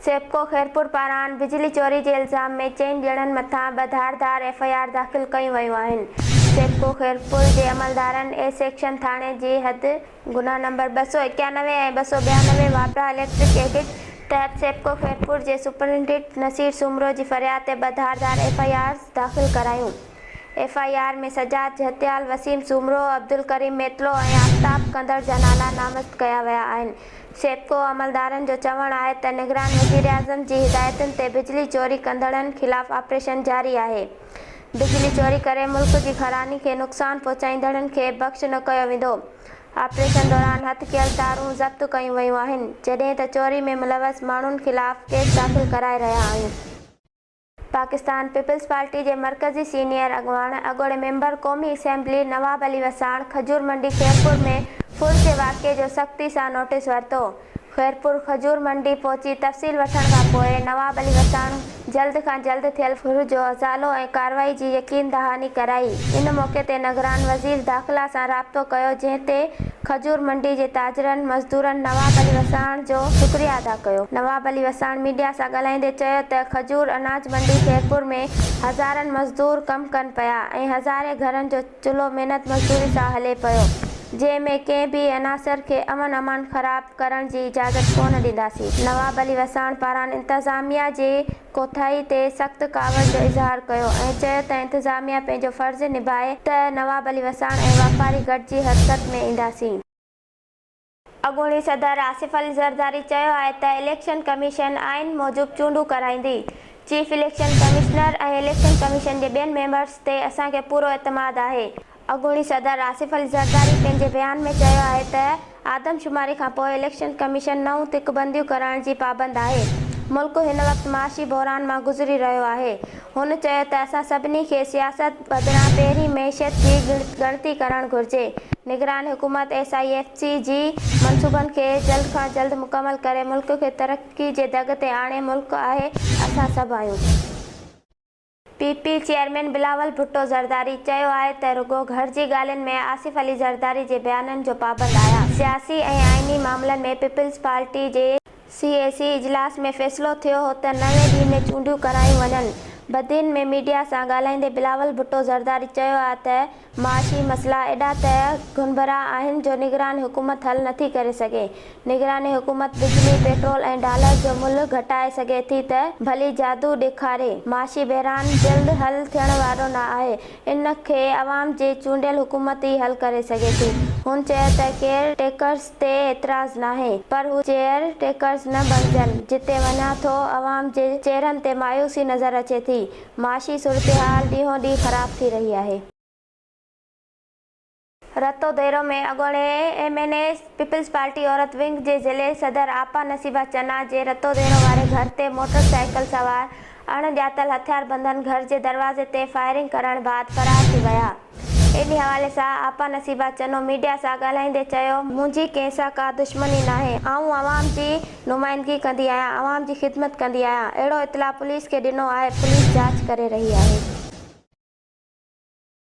سيپڪو خيرپور پاران بجلي چوري جي الزام ۾ چئن ڄڻن مٿان ٻه ڌار ڌار ايف آء آر داخل ڪيون ويون آهن. سيپڪو خيرپور جي عملدارن اي سيڪشن ٿاڻي جي حد گناهه نمبر ٻه سؤ اڪيانوي ۽ ٻه سؤ ٻيانوي واپڊا اليڪٽرڪ ايڊٽ تحت سيپڪو خيرپور جي سپرنٽيڊنٽ نصير سومرو جي فرياد تي ٻه ڌار ڌار ايف آء آرز داخل ڪرايون. F I R ۾ Sajjad Jhatial, Waseem Soomro, Abdul Karim Mitlo ۽ Aftab ڪندڙ جا نالا نامزد ڪيا ويا آهن. سيپڪو عملدارن جو چوڻ آهي ته نگران وزيراعظم جي هدايتن تي بجلي چوري ڪندڙن خلاف آپريشن جاري آهي، بجلي چوري ڪري ملڪ جي خراني کي نقصان پهچائيندڙن کي بخش نه ڪيو ويندو، آپريشن دوران هٿ ڪيل تارون ضبط ڪيون ويون آهن، جڏهن ته چوري ۾ ملوث ماڻهن خلاف ڪيس داخل ڪرائي رهيا آهيون. پاڪستان پيپلز پارٽي جي مرڪزي سينيئر اڳواڻ اڳوڻي ميمبر قومي اسيمبلي نواب علي وساڻ کجور منڊي خيرپور ۾ ڦر جي واقعي جو سختي سان نوٽيس ورتو خيرپور کجور منڊي پهچي تفصيل وٺڻ کان پوء نواب علي وساڻ جلد کان جلد ٿيل ڦر جو ازالو ۽ ڪارروائي جي يقين دهاني ڪرائي ان موقعي تي نگران وزير داخلا سان رابطو ڪيو جنهن تي کجور منڊي جي تاجرن مزدورن نواب علي وساڻ جو شڪريه ادا ڪيو نواب علي وساڻ ميڊيا سان ڳالهائيندي چيو ته کجور اناج منڊي خيرپور ۾ هزارن مزدور ڪم ڪن پيا ۽ هزارين گهرن جو چلهو محنت مزدوري سان هلي پيو جنهن ۾ ڪنهن به عناصر کي امن امان خراب ڪرڻ جي اجازت ڪونه ڏينداسين نواب علي وساڻ پاران انتظاميا جي ڪوتاهي تي سخت ڪاوڙ جو اظهار ڪيو ۽ چيو ته انتظاميا پنهنجو فرض نڀائي ته نواب علي وساڻ ۽ واپاري گڏجي حرڪت ۾ اينداسين. اڳوڻي صدر آصف علي زرداري چيو آهي ته اليڪشن ڪميشن آئين موجب چونڊون ڪرائيندي، chief election commissioner ۽ election commission جي ٻين ميمبرز تي اسان کي پورو اعتماد آهي، اڳوڻي صدر آصف علي زرداري پنهنجي بيان ۾ چيو آهي ته آدمشماري کانپوء اليڪشن ڪميشن نئون تڪ بنديون ڪرائڻ جي پابند آهي، ملڪ هن وقت معاشي بحران مان گذري رهيو آهي، هن چيو ته اسان سڀني کي سياست بدران پهرين معيشت جي ڳڻتي ڪرڻ گهرجي، نگران حڪومت ايس آء ايف سي جي منصوبن کي جلد کان جلد مڪمل ڪري ملڪ کي ترقي جي دڳ تي آڻي ملڪ آهي اسان سڀ آهيون. P P chairman Bilawal Bhutto Zardari چيو آهي ته رڳو گهر جي ڳالهين ۾ آصف علي زرداري جي بيانن جو پابند آهيان، سياسي ۽ آئيني معاملن ۾ پيپلز پارٽي جي. سي اي سي اجلاس ۾ فيصلو ٿيو هو ته نوي ڏينهن ۾ چونڊيون ڪرايون وڃن، بدين ۾ ميڊيا سان ڳالهائيندي بلاول ڀٽو زرداري چيو آهي ته. معاشي مسئلا ايڏا ته گهنڀرا آهن جو نگران حڪومت حل نٿي ڪري سگهي. نگران حڪومت بجلي، پيٽرول ۽ ڊالر جو ملهه گهٽائي سگهي ٿي ته ڀلي جادو ڏيکاري. معاشي بحران جلد حل ٿيڻ وارو نه آهي. ان کي عوام جي چونڊيل حڪومت ئي حل ڪري سگهي ٿي. هن چيو ته ڪيئر ٽيڪرز تي اعتراض ناهي پر هو چيئر ٽيڪرز نه بڻجن. جتي وڃان ٿو عوام جي چهرن تي مايوسي نظر اچي ٿي. معاشي صورتحال ڏينهون ڏينهن خراب ٿي رهي آهي. رتو ديرو ۾ اڳوڻي M N A Peoples Party عورت ونگ جي ضلعي صدر آپا نصيبه چنا جي رتو ديرو واري گهر تي موٽر سائيڪل سوار اڻ ڄاتل هٿياربندن گهر جي دروازي تي فائرنگ ڪرڻ بعد فرار ٿي ويا. انهي حوالي سان آپا نصيبه چنو ميڊيا سان ڳالهائيندي چيو، منهنجي ڪنهن سان ڪا دشمني ناهي، آئون عوام جي نمائندگي ڪندي آهيان، عوام جي خدمت ڪندي آهيان، اهڙو اطلاع پوليس کي ڏنو آهي، پوليس جاچ ڪري رهي آهي.